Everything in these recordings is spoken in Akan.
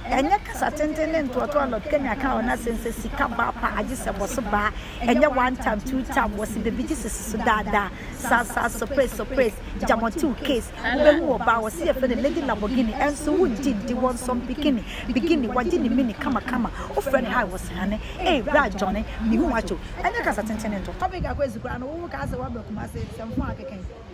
Ɛnyɛ kasa tenten ne ntoatoa a Lord Kenya kaa wɔ n'asɛm sɛ Sika ba a pa agye sɛ bɔso ba a, ɛnyɛ one time, two time, wɔse bebigye sese so daa daa, saa saa, surprise surprise, Jamotew case, wobɛhu wɔ baa wɔse yɛfrɛ no Lady Lamborghini, ɛnso wongye ndi, wɔnsɔn bikini, beginning, wagye ne mini kama kama, wofrɛ no high wɔse hane, ei bra Johnny, mehu w'akyew, ɛnyɛ kasa tenten ne ntoatoa. Topic a kɔ asi koraa no, wo wo kaa sɛ woaba Kumasi, sɛmfo a akeka yi.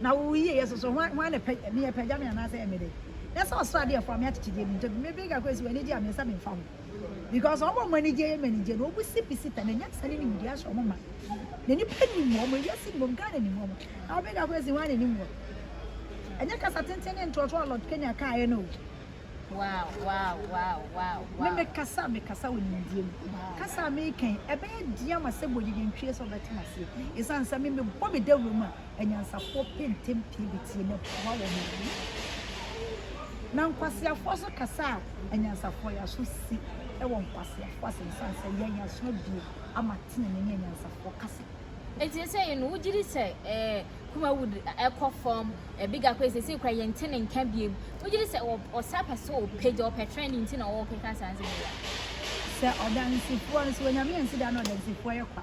Na wo yiyeyɛ so so, hwan, hwan na ɛpɛ, me apagya me anaasɛ ɛyɛ me de? Na sɛ ɔsoro adeɛ ɛfoa me akyekyedeɛ mu ntɛm, me bere kakra si wɔn anigye a me nsa memfa ho. Because wɔn a wɔn anigyeɛ yɛ me anigyeɛ no, wɔbusi bisi ta, na nyansa ne nimdeɛ ahyɛ wɔn ma. Na nnipa nim wɔn, ewiase nim wɔn, Ghana nim wɔn. Na wo bere kakra si hwan na ɛnim wɔn? Ɛnyɛ kasa tenten ne ntoatoa a Lord Kenya kaeɛ no o. Wow, wow, wow, wow, wow. Me me kasa a me kasa wɔ nimdeɛ mu. Kasa a me kan, ɛbɛyɛ deɛ ama sɛ bɔ gyegye ntwie sɛ ɔbɛte m'aseɛ. Ɛsan sɛ me me bɔ me dawuro mu a, anyansafoɔ pɛ ntɛm pie bɛtie na boa wɔn ano. Na nkwaseafoɔ nso kasa a anyansafoɔ yɛ aso si wɔ nkwaseafoɔ asɛm sane sɛ yɛn aso abie ama tenenee ne anyansafoɔ kasa. Enti sɛsɛi no wogye di sɛ eh, Kumawood ɛkɔ fam, eh, Big Akwa sɛsɛi kora yɛnte ne nka biem. Wogye di sɛ ɔsa pɛ sɛ ɔpagya, ɔpɛ trend nti na ɔkeka saa nsɛm yi a? Sɛ ɔdansifoɔ no, sɛ Onyame ansi da na ɔdansifoɔ yɛ kwa.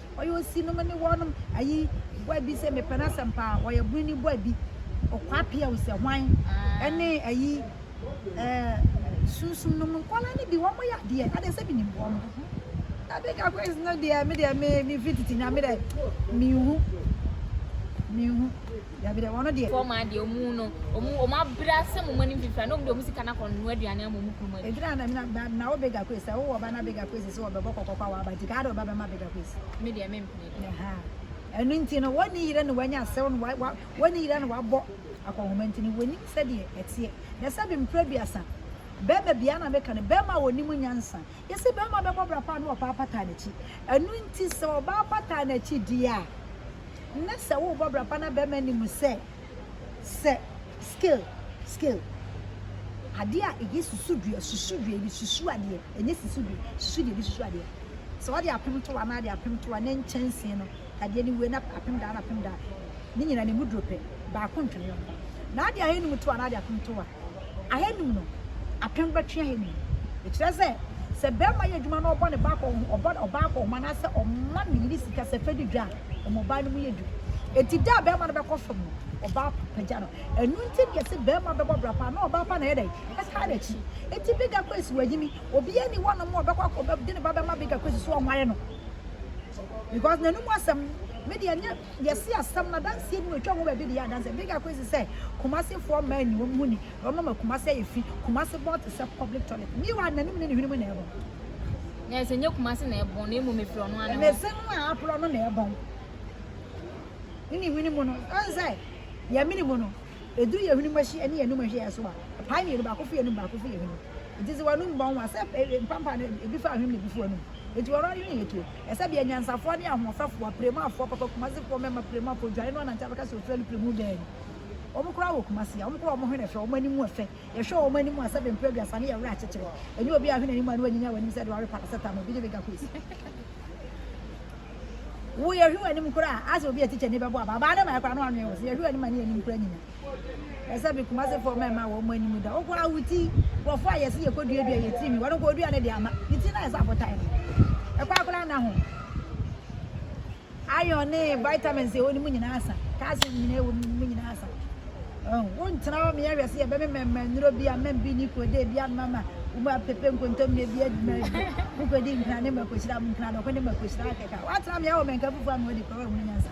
Ɔyɛ osi nom ne wɔ nom ayi bɔ abi sɛ mepɛ no asɛm paa ɔyɛ bone ni bɔ abi ɔkwa pia o sɛ hwan ɛne ayi ɛɛ sunsum nom nkɔla ne bi wɔn yɛ adeɛ adeɛ sɛ menim bɔ nom na big akwes no deɛ me deɛ me me fititi na me deɛ menhu menhu Dabi dabi ɔno deɛ. Fɔɔ maa deɛ ɔmu no ɔmu ɔmu abrɛ asɛ mo mɔnim fifira na ɔmu deɛ ɔmu sika na kɔn noa aduane ama ɔmu kunu mɔnim. Eduru ana mi na na wo bega kwesi sɛ wowɔ ɔba na bega kwesi sɛ ɔbɛbɔ kɔkɔ kɔ awɔ aba nti kaa de ɔba bɛma bega kwesi. Me deɛ me mpene deɛ. Aha ɛno nti no wɔne yere no wanya asɛw no wa wɔne yere no wabɔ akɔnhoma nti no wɔnim sɛdeɛ ɛteɛ na sɛbi mprɛ duasa bɛɛma bia na meka no bɛɛma a wɔnim nyansa Yɛse barima bɛbɔ bra pa a na ɔbaa bataa n'akyi. Ɛno nti sɛ ɔbaa bataa n'akyi deɛ a, na sɛ wobɔ bra pa na barima nim sɛ sɛ scale, scale, adeɛ a ɛyɛ susudua, susudua, yɛde susu adeɛ, ɛnyɛ susudua, susudua, yɛde susu adeɛ. Sɛ wɔde apem to hɔ anaa wɔde apem to hɔ a, na nkyɛnsee no. adeɛ no wie na apem daa na apem daa ne nyinaa ne mu duro pɛ baako ntwene yɔn ba na ade ahenum to a na ade apem to a ahenum no apem bɛtwe ahenum no ɛkyerɛ sɛ sɛ bɛrima yɛ adwuma na ɔbɔ ne ba kɔ ɔbɔ ɔbaa kɔ ɔma anaasɛ ɔma ne yere sika sɛ fɛdi dwa a ɔmo ɔbaa no mu yɛ du eti da a bɛrima no bɛkɔ fam no ɔbaa pagya no ɛnu nti deɛ sɛ bɛrima bɛbɔ bra paa na ɔbaa pa na ɛyɛ dɛ ɛtaa n'akyi eti bigger kwesi wɔ ayi mi obi ɛni hɔ nom ɔbɛkɔ akɔ bɛ de ne ba bɛma bigger kwesi so ɔnwae no. because n'anum asɛm me deɛ nyɛ yɛsi asɛm na danseɛ bi na otwa ho baabi de yɛ adanseɛ big akɔ esi sɛ kumasefoɔ mmaa ni wɔn ho ni wɔn ama kumase ayɛ fi kumase bɔn te sɛ public toilet mi wa n'anum ne ne hwene mu na ɛbɔn na ɛsɛ nyɛ kumase na ɛbɔn na emu mefiri ɔno ano mese no a aporɔ no na ɛbɔn ne ne hwene mu no ɛn sɛ yɛ mene mu no eduru yɛ hwene mu ahyi ɛne yɛ anum ahyi yɛ so a paa mmienu baako fi yɛ anum baako fi yɛ hwene mu Enti dze w'anomu bɔ ho ban, sɛ mpampaa no bi fa ahwem na bi fa w'anomu. Enti ɔno adwen yɛ tuo. Ɛsɛ bia anyansafoɔ ne ahoɔfɛfoɔ, aprɛmu afoɔ papa, Kumasefoɔ mmɛma prɛmu afoɔ dwane no anante abɛka sɛ Australia prɛmu bɛɛ ni. Wɔn koraa wɔ Kumase a, wɔn koraa wɔn hwene fɛ, wɔn anim ɛfɛ. Yɛhwɛ wɔn anim a, sɛbe mprɛduasa no yɛ werɛ akyekyere. Ɛnyɛ obiara a wahwɛ n'anim a na wanyinya w'anim sɛ deɛ wawe paracetamol, bi ne mega quays. Wo yɛhwɛ w'anim koraa a, asɛ obi a tikya ni bɛbɔ abaa, abaa no mmaeɛ koraa na wanwene wo, sɛ yɛhwɛ w'anim a ne yɛn anim koraa nyinya. ɛsɛ bi kumase fɔ mɛ ma wɔn anim da wɔkɔ awuti wɔfɔ a yɛsi yɛkɔ dua dua yɛtiri mi wɔn kɔ dua ne de ama ne ti na ɛsɛ abota yi ɛkɔ akora na ho iron ne vitamins ɛwɔ ne mu nyinaa sa calcium nyinaa ɛwɔ ne mu nyinaa sa wɔn ntena hɔ mìíràn hwɛ si yɛ bɛmɛ mɛmɛ nnuro bi a mɛm bi ne kuro de bi ama ma wɔn apɛpɛ nkontomire bi adwuma bi wɔkɔ di nkira ne mɛkɔ hyira nkira dɔkɔ ne mɛkɔ hyira akɛka wɔatena mìíràn wɔ mɛnka fufuo a mɛ wɔde kɔ wɔn mu nyansa.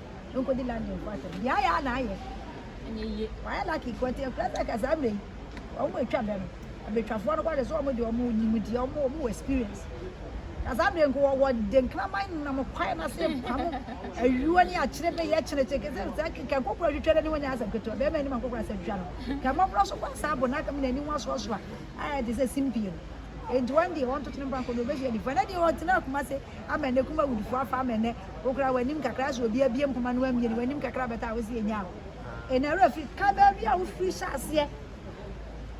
Nkodi London fo asɛm. Deɛ ayɛ a na ayɛ. Ɛnyɛ yie. Wayɛ lucky kɔ nti ɛkura sɛ kasa mmerɛ yi wɔn mu atwa bɛ no abɛtwafoɔ no kɔhwɛ sɛ wɔn deɛ wɔn nim deɛ wɔn wɔn wɔ experience. Kasa mmerɛ nko wɔ wɔ de nkraman nam kwae no ase pam ayuo ne akyerɛ bɛ yɛ kyerɛ kyerɛ kɛsɛ sɛ kɛ nkokora twitwa n'ani wɔn nyɛ asɛm ketewa bɛrima anim nkokora sɛ twitwa no kɛ mmɔborɔ so kɔ saa bɔ n'akam n'ani wɔn asoasoa ayɛ te sɛ simpie no nti wɔn deɛ wɔn toto ne mpa nko na wɔbɛhyia nifa na deɛ wɔn tena akoma se Amen ne kuma wood foɔ afa amen ne wo koraa w'anim kakra sɛ obi abie mpoma no ammie no w'anim kakra abɛtɔ a wose yɛnyaa wo ɛna awura firi ka baabi a wofiri hyɛ aseɛ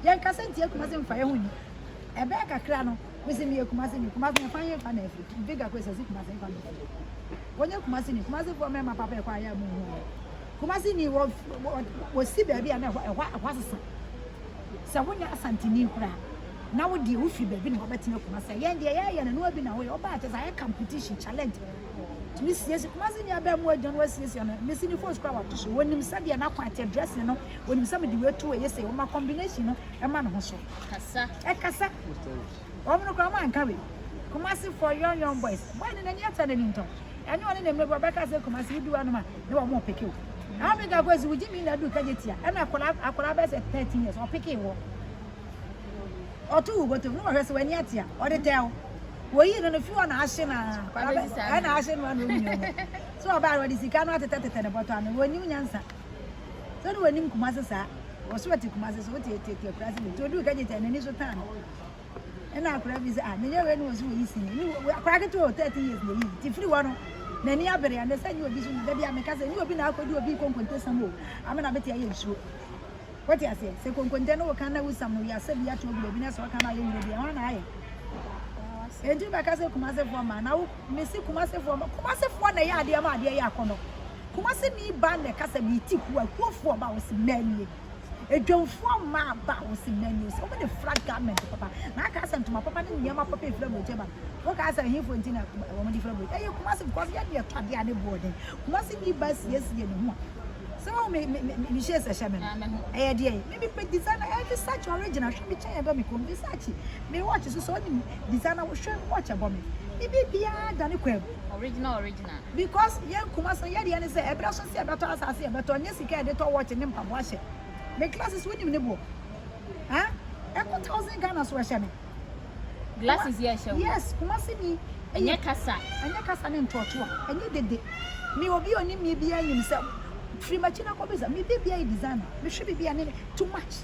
yɛn kasa nti akuma se mfa yɛ ho ni ɛbɛɛ kakra no mese meyɛ kuma se ni kuma se ɛkwan yɛ fa na afiri big akɔ ɛsɛ se kuma se fa na afiri wɔnyɛ kuma se ni kuma se foɔ mɛma papa ɛkɔ ayɛ mu ho kuma se ni wɔ wɔ si baabi a na ɛhɔ ɛhɔ asesa sɛ wonyɛ Asanteni koraa na wo deɛ wofiri baabi na wabɛtena Kumasi a, yɛn deɛ yɛyɛ no noa bi na woyɛ, wobaa a kyerɛ sɛ ayɛ competition, challenge, tumi siesie Kumasi ni abɛɛmu adwuma no wasiesie no, mesi ne phones koraa wato so, wɔnim sɛdeɛ n'akwan teɛ, dressing no, wɔnim sɛ mede wei to wei yɛ sei, wɔma combination no ɛma ne ho so. Kasa. Ɛkasa. Wɔn no koraa wɔn anka wei. Kumasi for young young boys. Boy no n'ani afɛ n'ani ntɔ. Ɛne ɔne ne mmerɛbɔ bɛka sɛ Kumasi wodu anom a ne wɔn mo peke o. Africa kɔ si wogye mi na du kagye tia ɛna akɔla akɔla bɛ sɛ 13 years ɔpeke wɔ. Ɔto wo botom no wɔhwɛ sɛ w'ani atia ɔde tɛ wo. Woyi no no fi hɔ na ahye na ɛna ahye no ano omi no. So ɔbaa no ɔde sika no atetɛ tetɛ ne bɔtɔ ano wɔnim nyansa. So no wɔnim Kumasi saa. Wɔso ɛte Kumasi so wote ɛte ɛte akurase bi. Nti odu kagye tia n'ani so tan no. Ɛna akwadaa bi sɛ, ah, menyɛ wei ne wɔ so wɔ yi sini. Akwadaa ketewa o, 13 years na ɛyi. Ti firi hɔ no, n'ani abere ɛnɛ sɛ nyɛ obi so. Da bi a meka sɛ, nyɛ obi na akɔdi obi konkonte sam o, ama na bɛte ayɛ nsuo. Wote aseɛ? Sɛ konkonte no woka na wosam no, wiase bi ato agu baabi na sɛ woka no ayɛ nwura bi, ɛhɔ na ayɛ. Enti wobɛka sɛ Kumasefoɔ mmaa, na wo, mesi Kumasefoɔ mmaa, Kumasefoɔ na ɛyɛ adeɛ ma adeɛ yɛ akɔnɔ. Kumase ni ba na ɛka sɛ meti kuo a, kuofoɔ ba, wɔsi mmaa nie. Adwamfoɔ mmaa aba a wɔsi menus, wɔn de fra garment papa. Na aka sɛ ntoma papa ne nneɛma papa efra aburokyi ba. Woka sɛ ɛhinfo nti na wɔn de fra aburokyi. Ɛyɛ Kumasi because yɛ deɛ tɔ adeɛ a ne boɔ den. Kumasi ni ba siesie ne ho a. Sɛ wɔn me me me me hyɛ sɛ hyɛ me no. Ɛyɛ deɛ me me me designer ɛyɛ Versace original hwɛ me kyɛn ɛbɔ me kɔn Versace. Me watch so sɛ wɔn designer hwɛ watch ɛbɔ me. Me biribiara da ne kwan mu. Original original. na. Because yɛn Kumasi no yɛdeɛ ne sɛ ɛbrɛ so sɛ yɛbɛtɔ asaase yɛbɛtɔ nyɛ sika yɛde tɔ watch ne mpaboa hyɛ me glasses wonim ne boɔ ah ɛkɔ thousand Ghana so ɛhyɛ me glasses yɛ ɛhyɛ wo yes Kumasi ni ɛnyɛ kasa ɛnyɛ kasa ne ntɔɔtoa ɛnyɛ dede me obi onim me biara nim sɛ firi makyi na kɔ bisa me bibia yɛ designer mehwɛ bibia ne too much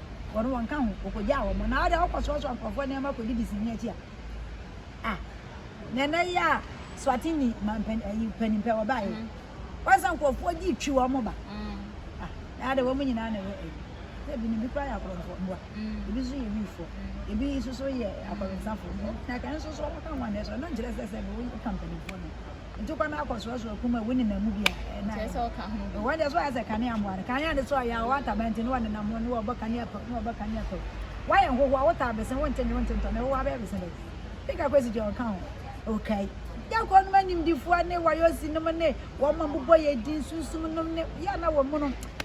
wɔn wɔnka ho, wɔkɔgyaa wɔn. Na wode wokɔsoasoa nkurɔfoɔ nneɛma kɔdidi sini akyi a, ah, na ɛnɛ yi a Swatini mampan ayi eh, panimpɛ wɔbaeɛ. Mm. Wɔn sɛ nkurɔfoɔ gye twi wɔn ba. Mm. Ah, na ade wɔn nyinaa na ɛyɛ ayi. Sɛ ebi no bi kora yɛ akorɔmfoɔ mmoa, mm. ebi nso yɛ wifoɔ, mm. ebi nso so yɛ akɔrensafoɔ. Na kan nso so wɔka ho anɛ so, ɛno nkyerɛ sɛ sɛ wɔka mpanimfoɔ no. Nti kɔ na akɔ soɔsoɔ kum awu nenam mu bi a ɛna Kyerɛ sɛ ɔka ho bi. wɔn deɛ so ayɛ sɛ kanea mmoa no kanea ne so ayɛ a wɔwɔ ntaban nti ne wɔn nenam ho ne wɔbɔ kanea pɛw ne wɔbɔ kanea pɛw wɔayɛ nhohoa wotaa bese wonte nwe wonte ntɔ na ɛhohoa bɛyɛ bese dɛ pika kwesi deɛ ɔka ho okay Dako nom animdifoɔ ne wayosi nom ne wɔn a bobɔ yɛ din sunsum nom ne yɛ na wɔn mu no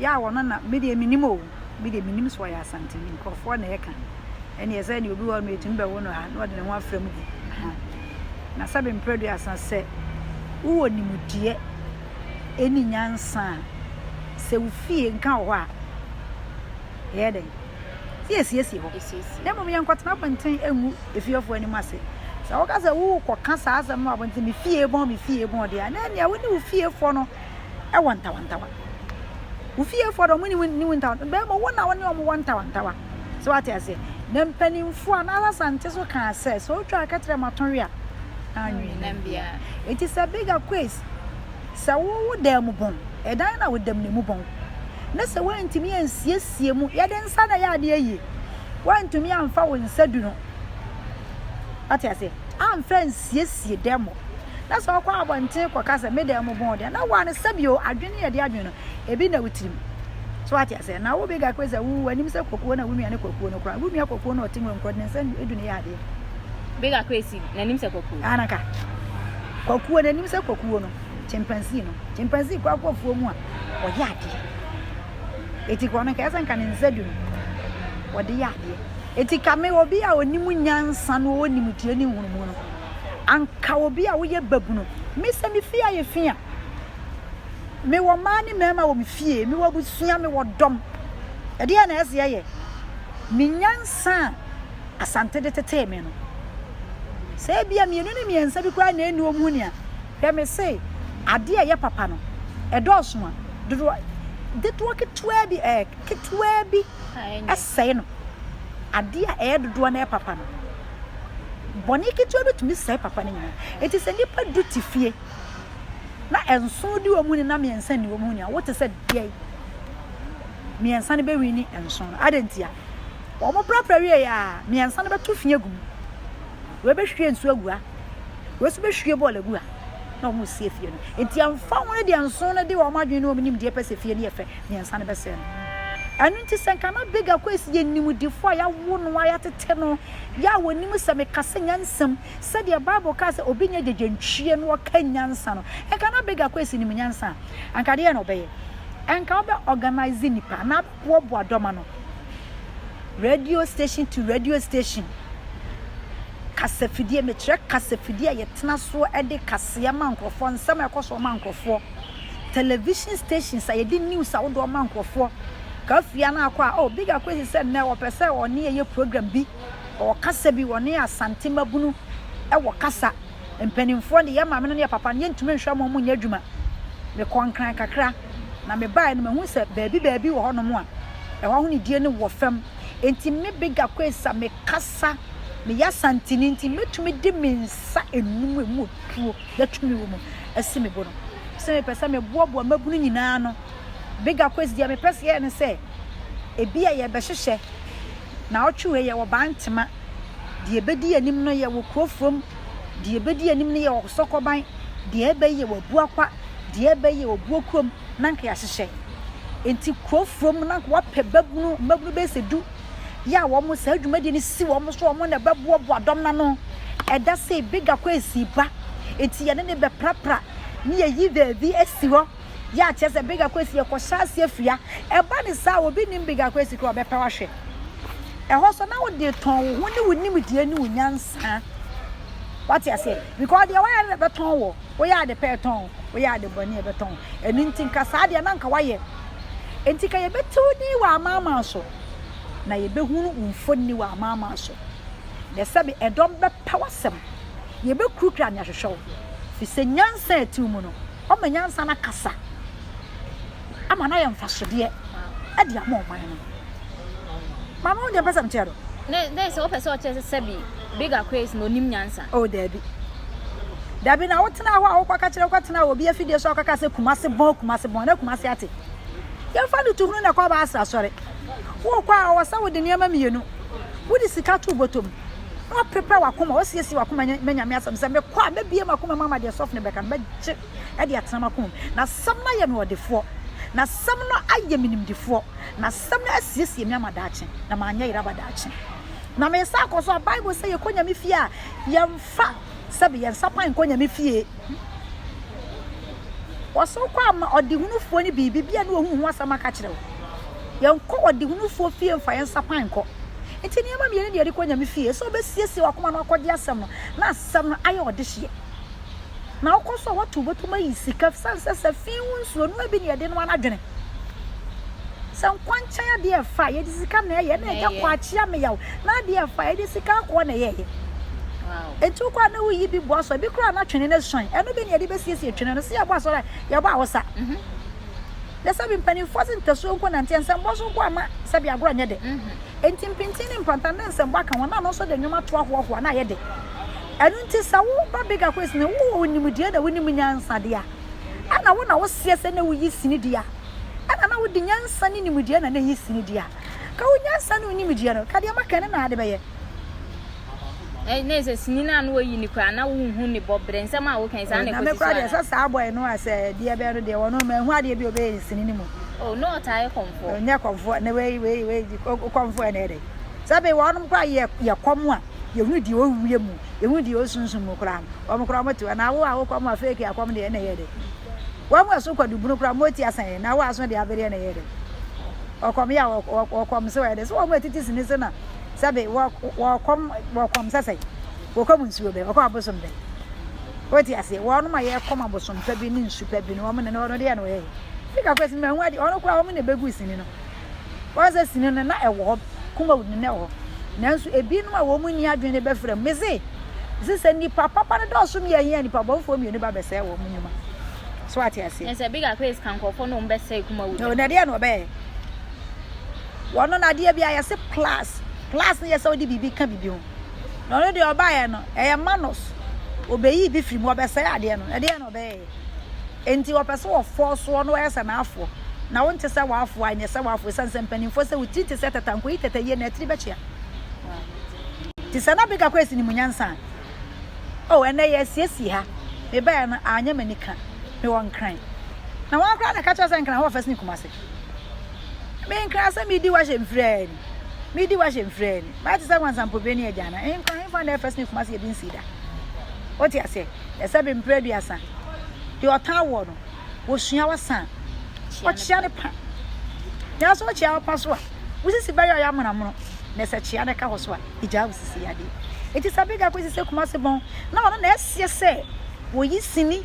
yɛ a wɔno na me deɛ menim o me deɛ menim so ɔyɛ asanteni nkurɔfoɔ na ɛka ɛne ɛsɛ ne obi wɔ no ɛtumi bɛwo no ha na ɔde ne ho afra mu gu na sɛ bemprɛ duasa sɛ wowɔ nimdeɛ ɛni nyansa a sɛ wo fie nka wɔ hɔ a ɛyɛ dɛn sɛ yɛsiesie hɔ na mmom yɛnkɔtena abɔnten ɛngu efiefoɔ anim ase sɛ woka sɛ wokɔka saa asɛm no abɔnten me fie bɔn me fie bɔn deɛ na ɛnea wo ne wo fiefoɔ no wɔ ntawantawa. Wo fiefoɔ de wɔn ne wo ntawantawa. Bɛrima wo na wɔne wɔn wɔ ntawantawa. So wate aseɛ? Na mpanimfoɔ a n'asa sante so kaa sɛ sɛ otwa akɛtrɛ ma tɔnwe a anwene nam bia. Eti sɛ bigger quiz sɛ wo wo dan mu bɔn ɛdan na wo dam na mu bɔn. Na sɛ wɔntumi ansiesie mu yɛde nsa na yɛ adeɛ yie. Wɔntumi amfa wo nsa du no. Wate aseɛ? amfa ansiesie dan mu. Na sɛ ɔkɔ abɔnten kɔka sɛ me dan mu bɔn deɛ, na wɔn sɛbio adwene yɛ de adwene no, ebi na wo tirim. So wate aseɛ? Na wo bɛga kwe sɛ wo w'anim sɛ kɔkuo na wo nua ne kɔkuo no koraa. Wo nua kɔkuo no ɔte nwuram korɔ, ne nsa edu ne yadeɛ. Bɛga kwe si n'anim sɛ kɔkuo. Anaka. Kɔkuo n'anim sɛ kɔkuo no. Chimpanzee no. Chimpanzee kɔ akɔ afuo mu a, ɔyɛ adeɛ. Eti kɔ no nka ɛsɛ nka ne nsa du no. Wɔde yɛ adeɛ. Enti ka me, obi a onim nyansa na ɔwɔ nimdeɛ ne nhunumu no, anka obi a woyɛ babunu. Me sɛ me fie ayɛ fi a, mewɔ mmaa ne mmarima wɔ me fie, mewɔ abusua, mewɔ dɔm. Ɛdeɛ na ɛsɛ ɛyɛ. Me nyansa a Asante de tetee me no, sɛ ebia mmienu ne mmiɛnsa bi koraa na ɛni wɔn ho ni a, hwɛ me se adeɛ a ɛyɛ papa no, ɛdɔɔso a, dodoɔ, dedoɔ ketewa bi, eh, ketewaa bi sɛe no. Ade a ɛyɛ dodoɔ no yɛ papa no. Bɔne ketewa bi tumi sɛe papa no nyinaa. Eti sɛ nnipa du te fie na nson di wɔn ni na mmiɛnsa ni wɔn ni a, wote sɛ deɛ mmiɛnsa no bɛwi ni nson no. Adɛn ntia? Wɔn prapra wie yɛ a, mmiɛnsa no bɛto fi agu mu. Wɔbɛhwie nsuo agu ha. Wɔn nso bɛhwie bɔɔl agu ha na wɔn resie fie no. Eti ɛmfa ho no deɛ nson no de wɔn adwene ne wɔn nimdeɛ pɛ sɛ fie no yɛ fɛ mmiɛnsa no bɛsɛe no. Ɛno nti sɛ nka na Big Akwesi yɛ nimdefo a yɛawo no a yɛatete no yɛ a ɔnim sɛ mekasa nyansam sɛdeɛ Bible kaa sɛ obi nyɛ gyegyentwie na ɔka nyansa no, nka na Big Akwesi nim nyansa a, anka deɛn na ɔbɛyɛ? Anka ɔbɛ organise nnipa anaa abɛboaboa dɔm ano, radio station to radio station, kasafidie, mekyerɛ kasafidie a yɛtena soɔ de kaseɛ ma nkurɔfoɔ, nsɛm a ɛkɔ soɔ ma nkurɔfoɔ. television stations a yɛde news ahodoɔ ma nkorɔfoɔ. Kafia no akɔ a, oh, Big Ako asi sɛ nnɛ ɔpɛ sɛ ɔne yɛyɛ program bi, ɔwɔ kasa bi, ɔne Asante mmabunu wɔ kasa. Mpanimfoɔ deɛ, yɛn maame no ne yɛn papa no, yɛntumi nhwɛ wɔn, wɔnyɛ adwuma. Mekɔɔ Nkran kakra, na mebaeɛ no, mahunu sɛ baabi baabi wɔ hɔnom a, ɛhɔ ahonidie no wɔ fam. Enti me, Big Ako asi, a mekasa, meyɛ Asanteni nti, mɛtumi de me nsa nnum a ɛmu wɔ tuo, na tumi wɔ mu. asi me bo no, sɛ mepɛ sɛ meboaboa mmabunu nyinaa ano. Bigger Quest deɛ mepɛ sɛ yɛyɛ ne sɛ, ebia yɛbɛhyehyɛ naawɔtwe wei yɛwɔ Bantema, deɛ ɛbɛdi anim no yɛwɔ Kurofurom, deɛ ɛbɛdi anim no yɛwɔ Sɔkɔban, deɛ ɛreba yi yɛwɔ Abuakwa, deɛ ɛreba yi yɛwɔ Buokurom, na anka yɛahyehyɛ. Enti Kurofurom no anka wɔapɛ babunu, mmabunu bɛyɛ sɛ du. yɛ a wɔn saa dwumadie no si wɔn so wɔn na ɛbɛboaboa dɔm no ano ɛda sei bigger kɔ esi ba eti yɛne ne bɛprapra ne yɛyi baabi esi hɔ yɛ akyɛ sɛ bigger kɔ esi yɛkɔ hyɛ aseɛ fia ɛba ne saa obi nim bigger kɔ esi kora ɔbɛpɛ wahwɛ ɛhɔ so na wode tɔn wo ho ne wo nimdeɛ ne wo nyansa wate aseɛ because deɛ wayɛ no na ɛbɛtɔn wɔ woyɛ ade pɛ ɛtɔn woyɛ ade bɔne ɛbɛtɔn ɛno nti nka saa deɛ na nka wayɛ nti ka yɛbɛtiw din wɔ amaaman so na yebehunu wo mfonini wɔ amanaman so. Ɛyɛ sɛ me ɛdɔm bɛpɛ w'asɛm, yebekurukura nea ɛhwehwɛ wo, efisɛ nyansa a ɛte wo mu no, wɔama nyansa no akasa ama no ayɛ mfasodeɛ de ama ɔman no. Maame, wohu deɛ mpɛ sɛ mekyerɛ no? Ne ne sɛ wopɛ sɛ ɔkyerɛ sɛ sɛbi Big Aquarius na onim nyansa. Oh, daabi. Daabi na wotena hɔ a wokɔka kyerɛ wokɔtena wɔ obi afidie so a wokɔka sɛ Kumase bɔn Kumase bɔn na Kumase ate. Yɛmfa no to hunu na kɔba ase asɔre. Worekɔ a, ɔwɔ sɛ wode nneɛma mmienu. Wode sika to bɔtɔ mu, na woaprepare w'akoma, woasiesie w'akoma anya ma Nyame asɛm sɛ, mekɔ a, mɛbue m'akoma mu ama deɛ sɔfo no bɛka no, mɛgye de atena m'akoma mu. N'asɛm no ayɛ me ɔdefoɔ. N'asɛm no ayɛ me nimdefoɔ. N'asɛm no asiesie me ama daakye, na manyɛ yere aba daakye. Na meresan akɔ so a, Bible sɛ yɛkɔ Nyame fie a, yɛmfa sɛbe, yɛn nsapan nkɔ Nyame fie. Wɔsow kɔ ama ɔdehunufoɔ no biribi, bia ne wɔhu wo ho asɛm aka kyerɛ wo. Yɛnkɔ ɔdehunufoɔ fie mfa yɛn nsa pan nkɔ. Nti nneɛma mmienu ne yɛde kɔ Nyame fie, sɛ ɔbɛsiesie wakoma na wakɔgye asɛm no, na asɛm no ayɛ ɔdehyeɛ. Na wokɔ so a, woato bɔtom ayi sika, sane sɛ sɛ fii wo nsuo no, ebi ne yɛde noa no adwene. sɛ nkwa nkyɛn adeɛ ɛfa a yɛde sika na ɛyɛ na ɛyɛ kɔ akyea me yaw na adeɛ ɛfa a yɛde sika akɔ na ɛyɛyɛ ɛti wokɔ a na woyi bi boa so bi koraa na twene no suan ɛno bi ne yɛde bɛsiesie twene no sɛ yɛbɔ asɔre a yɛbɔ awosa yɛ sɛ bi mpanimfoɔ se ntasuo nko nanteɛ nsɛmbɔ so nko ama sɛ bi agorɔ nyɛ dɛ ɛnti mpintin ne mpantan dɛ nsɛmbɔ aka ho na no nso de nnwom ato ahoɔhoa na ayɛ dɛ ɛno nti sɛ wo ba bigger quiz ne wowɔ wo nimdeɛ na wonim nyansa deɛ a ɛna wo na wo seɛ sɛ na wo yi sini deɛ a, ɛna na wo de nyansa ne nimdeɛ na na ɛyi sini deɛ a, ka wo nyansa ne wo nimdeɛ no, ka deɛ maka yi ne na ade bɛyɛ. Ɛɛ, na ɛsɛ sini no a na wɔyi ne koraa, na wo nhu ne bɔ berɛ, nsɛm a wo ka yi, saa na ɛkɔ si so anaa? Na me koraa deɛ, sɛ saa boy no a, sɛ deɛ bɛyɛ no deɛ, wɔ no, manhu adeɛ bi a ɔbɛyɛ ne sini no mu. Oh, na ɔtaa yɛ kɔmfoɔ? Ɔnyɛ kɔmfoɔ, na wei, wei, wei, kɔmfoɔ yɛ na ɛyɛ dɛ? Sɛ bɛyɛ wɔ nom koraa yɛ, yɛ kɔm a. Yɛhunu deɛ ɔwɔ wiem mu, yɛhunu deɛ ɔwɔ sunsum mu koraa no, wɔn koraa wɔte hɔ. Na wo a wokɔ mo a fake akɔm deɛ na ɛyɛ dɛ. Wɔn mu ɛso kɔ dubunu koraa mo ti asan yɛ, na wo aso deɛ abereɛ na ɛyɛ dɛ. Ɔkɔm yɛ a ɔkɔm sɛ ɔyɛ dɛ. So wɔn mu ɛtiti sini sɛ na sɛbe wɔkɔm wɔkɔm sɛ sɛ wɔkɔm nsuo bɛ, wɔkɔ abosom bɛ. Wɔte aseɛ, wɔn mu a yɛkɔm abosom pa bi ne nsu pa bi no wɔn ne no ɔno deɛ na ɔyɛ. Fika kɔ sini ma ɛho adeɛ, ɔno koraa wɔn na ɛbɛgu sini no. Wɔn sɛ sini no na ɛwɔ hɔ, kumawu no na ɛwɔ hɔ. Nanso ebinom a wɔn nni adwene no bɛfrɛ mu. Mise, Mise sɛ nnipa papa no dɔɔso mmiɛn yi a nnipa bɔnfoɔ mmienu ba bɛsɛe wɔn nnwuma. So wate aseɛ? Ɛsɛ sɛ bigger case ka nkurɔfoɔ na wɔn bɛsɛe kumawu no. Na ɛdeɛ na ɔbɛyɛ. Wɔn no n'adeɛ bi a yɛse plus. Plus no yɛ sɛ ɔde biribi ka biribi ho. Na ɔno deɛ ɔbaeɛ no ɛyɛ manus. Ɔbɛyi bi firi mu, ɔbɛsɛe adeɛ no. Ɛdeɛ na ɔbɛyɛ. Enti ɔpɛ sɛ ɔfɔw soɔ na ɔyɛ sɛ n'afoɔ. Na wonte sɛ w'afoɔ a, nyɛ sɛ w'afoɔ, esiane sɛ mpanimfoɔ sɛ wo tiri te sɛ tɛtɛ a, nkɔyi tɛtɛ yie na atiri bɛkyea. Te sɛ na Bigga Quest nim nyansa a. Oh, ɛnnɛ yɛasiesie ha. Mebaeɛ no, anyɛ m'ani ka. Mewɔ Nkran. Na wɔn koraa na ɛka kyerɛ sɛ Nkran hɔ fɛs ne Kumase. Me Nkran sɛ medi hɔ ahyɛ mfiri a ni. Medi hɔ ahyɛ mfiri a ni. Mayɛ te sɛ Wansampobire ne Agyanan. Nkran, hefa na ɛfɛs ne Kumase yɛbi nsii da. Wote aseɛ? ɛsɛ be mpere aduasa, deɛ ɔtaa woɔ no, wɔsua wasa a, ɔkyea ne pa. Nanso ɔkyea wo pa so a, wo sisi bɛyɛ ɔyɛ amonamono, na sɛ kyea no ka hɔ so a, egyaa wo sisi yadeɛ. Enti sɛ Abigail kɔsi sɛ Kumasi bɔn na ɔno na ɛseɛ sɛ wɔyi sini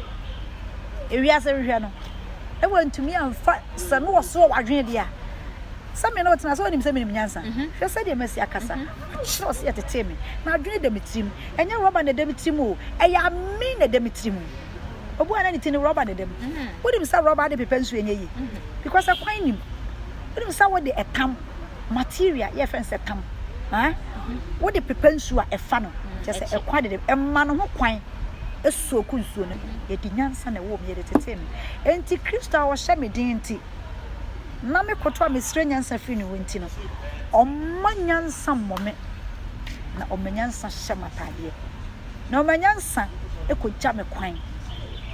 ewiase hwehwɛ no, na wantumi amfa sɛ no ɔsoɔ wadwene deɛ a, sɛ me na ɔtena sɛ ɔnim sɛ menim nyansa. Hwɛ sɛdeɛ masi akasa. Akyerɛ sɛ yɛtetee me. M'adwene da me tirim. Ɛnyɛ rɔba na ɛda me tirim o, ɛyɛ ame na ɛda me tirim. Obu a na ne ti no rɔba na ɛda mu. Wonim sɛ rɔba de pepa nsu ɛnyɛ yie because ɛkwan nnim. Wonim sɛ wode ɛtam, material yɛfrɛ no sɛ tam, wode pepa nsu a ɛfa no kyerɛ sɛ ɛkwan dede ɛma no ho kwan ɛsoaku nsuo no mu. Yɛde nyansa na ɛwɔ mu, yɛde tetee me. Enti Kristo a ɔhyɛ me den nti. na me kotow a mesrɛ nyansa firi ne hɔ nti no, ɔmma nyansa mmɔ me, na ɔma nyansa hyɛ m'ataadeɛ, na ɔma nyansa kɔgya me kwan.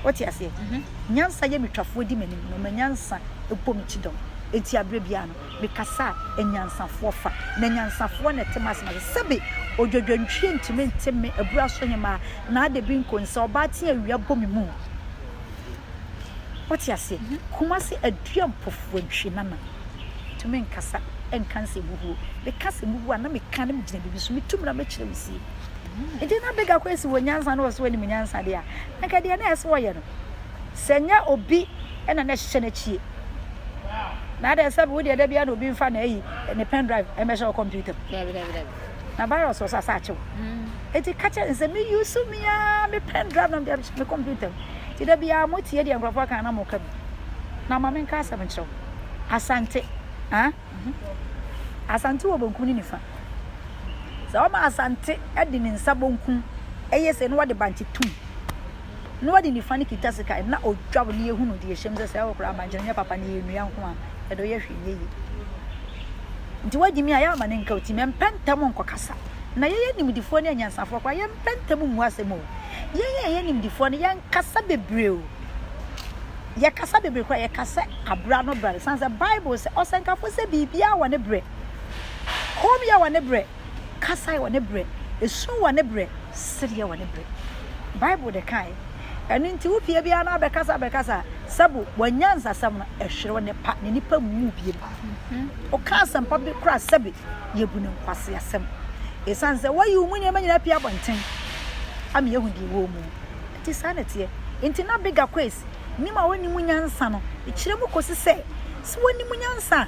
Wote aseɛ? Mhm. Nyansa yɛ me twafoɔ di m'anim, na ɔma nyansa bɔ me kyidɔm. Enti aberɛ biara no, mekasa a, anyansafoɔ fa, na anyansafoɔ na ɛte m'asɛm ase. Sɛbe odwadwantwie ntumi nte me abura so hemmaa, n'adebi nkonsɛ ɔbaa te a awia bɔ me mu. Wote aseɛ? Kumasi aduanpofoɔ ntwi nana. Tumi nkasa nka nsɛmhuhuo. Meka nsɛmhuhuo a na meka na megyina biribi so. Metu mmra mɛkyerɛ wo sie. Nti na big akɔ asi wɔ nyansa na ɔsɛ wɔnim nyansa deɛ a, anka deɛ na ɛsɛ wɔyɛ no. Sɛ nyɛ obi ɛna na ɛhyehyɛ n'akyie. Na adɛ sɛ wo deɛ da biara na obi mfa na ayi ne pen drive ɛmɛhyɛ wo computer mu. na virus wɔ so asa akyew eti ka kyerɛ nsɛ me use me a me pen drive na mede me computer mu ti da bia mo tie deɛ nkurɔfoɔ kan na mo ka bi na ma menka asɛm nkyerɛw asante ah asante wɔ bonkum ne nifa sɛ wɔma asante de ne nsa bonkum ɛyɛ sɛ no wɔde bankye tum na ɔde nifa no kita sika na ɔtwaw na yɛhunu deɛ ɛhyɛm sɛ sɛ ɛwɔ koraa abankyɛre nyɛ papa na yɛnnua nko a ɛdɔ yɛ hwee nyɛ yie nti woagye mi a yɛ ama ne nka ɔtim ɛmpɛ ntɛm nkɔkasa na yɛyɛ nimdifoɔ ne anyansafoɔ koraa yɛmpɛ ntɛm mmu asɛm o yɛyɛ yɛyɛ nimdifoɔ no yɛnkasa bebree o yɛkasa bebree koraa yɛkasa abra no bra no san sɛ bible sɛ ɔsɛnkafoɔ sɛ biribiara wɔ ne berɛ kom yɛ wɔ ne berɛ kasae wɔ ne berɛ, ɛsu wɔ ne berɛ, sereɛ wɔ ne berɛ. Bible de kae. Ɛno nti wo fie biara no abɛkasa abɛkasa sɛ bo wanya nsasɛm no ɛhwerɛ ne pa ne nipa mmu biem. Ɔka asɛmpa bi koraa sɛbe yɛbu ne nkwase asɛm. Ɛsiane sɛ wayi wo mu nneɛma nyinaa pii abɔnten ama yɛhu deɛ wɔ mu. Ɛti saa na ɛteɛ. Nti na bigger quiz nim a wɔnim nyansa no ɛkyerɛ mu kɔsi sɛ sɛ wɔnim nyansa a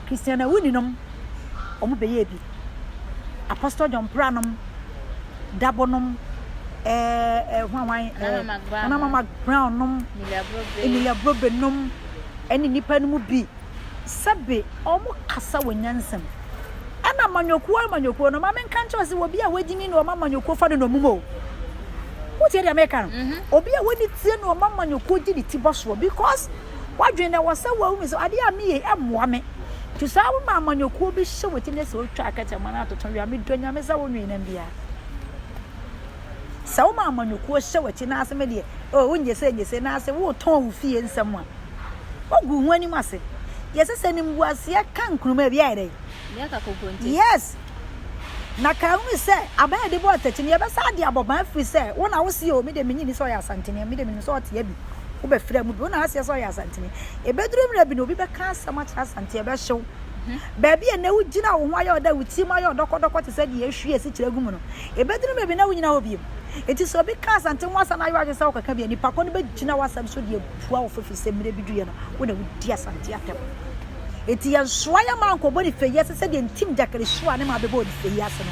Christian Awuni nom ɔmo bɛyɛɛ bi. Apostle John Prah nom, Dabo nom, eh, eh, hwan hwan, eh, Nana Mac Brown Nana nom. Mac Brown nom, Emilia Brobe. Emilia Brobe nom, ɛne nnipa no mu bi. Sɛbe ɔmo kasa wɔ nyansam. Ɛna amanyɔkuo amanyɔkuo no, ma me nka nkyerɛ wo sɛ obi a wagyimi na ɔma amanyɔkuo fa no nɔmum o. Wotie deɛ meka no? Obi a wani tie na ɔma amanyɔkuo gye ne ti bɔ soɔ because W'adwene na ɛwɔ sɛ wahu sɛ adeɛ a meyɛ yi mmoa me. Nti saa wo ma amanyɔkuo bi hyɛ wo ti ne sɛ wotwa akɛtɛ ma no atoto wia me dɔ nyame sɛ wo nwee nam biara. Sɛ wo ma amanyɔkuo hyɛ wo ti n'ase me deɛ o wo nyese nyese n'ase wo tɔn wo fie nsɛm a wogu ho anim ase. Deɛ ɛsɛ sɛ nimguaseɛ ka nkruma bi ayɛ dɛ. Yes. Na kaa unu sɛ, Aban a yɛde bɔ atɛkyɛ no, yɛbɛsan de abɔ ban afiri sɛ, wo na wose, O, me deɛ mennye nni sɛ ɔyɛ Asantene, me deɛ menim sɛ ɔteɛ bi, wobɛfiri amu bi, wo na woaseɛ sɛ ɔyɛ Asantene. Ɛbɛduru mmerɛ bi na obi bɛka asɛm akyerɛ Asantene, ɛbɛhye wo. Baabi a ɛnnɛ wogyina a wo ho ayɛ wo dɛ, wo tirim ayɛ wo dɔkɔdɔkɔ te sɛ deɛ yɛahwie asikyire agu mu no, ɛbɛduru mmerɛ bi na worennyina hɔ bio. Enti sɛ obi ka Asantene ho asɛm na ayɛ w'adwene sɛ wokɔka bi a, nnipa korɔ no bɛgyina w'asɛm so de abua wo fɔ ɛfiri sɛ mmerɛ bi duruiɛ no, wo na wodi Asantene atɛm. Enti yɛnsoa yɛn mma nkɔbɔ ne fie ase sɛdeɛ ntimgyakere soaa ne mma bɛbɔɔ ne fie ase no.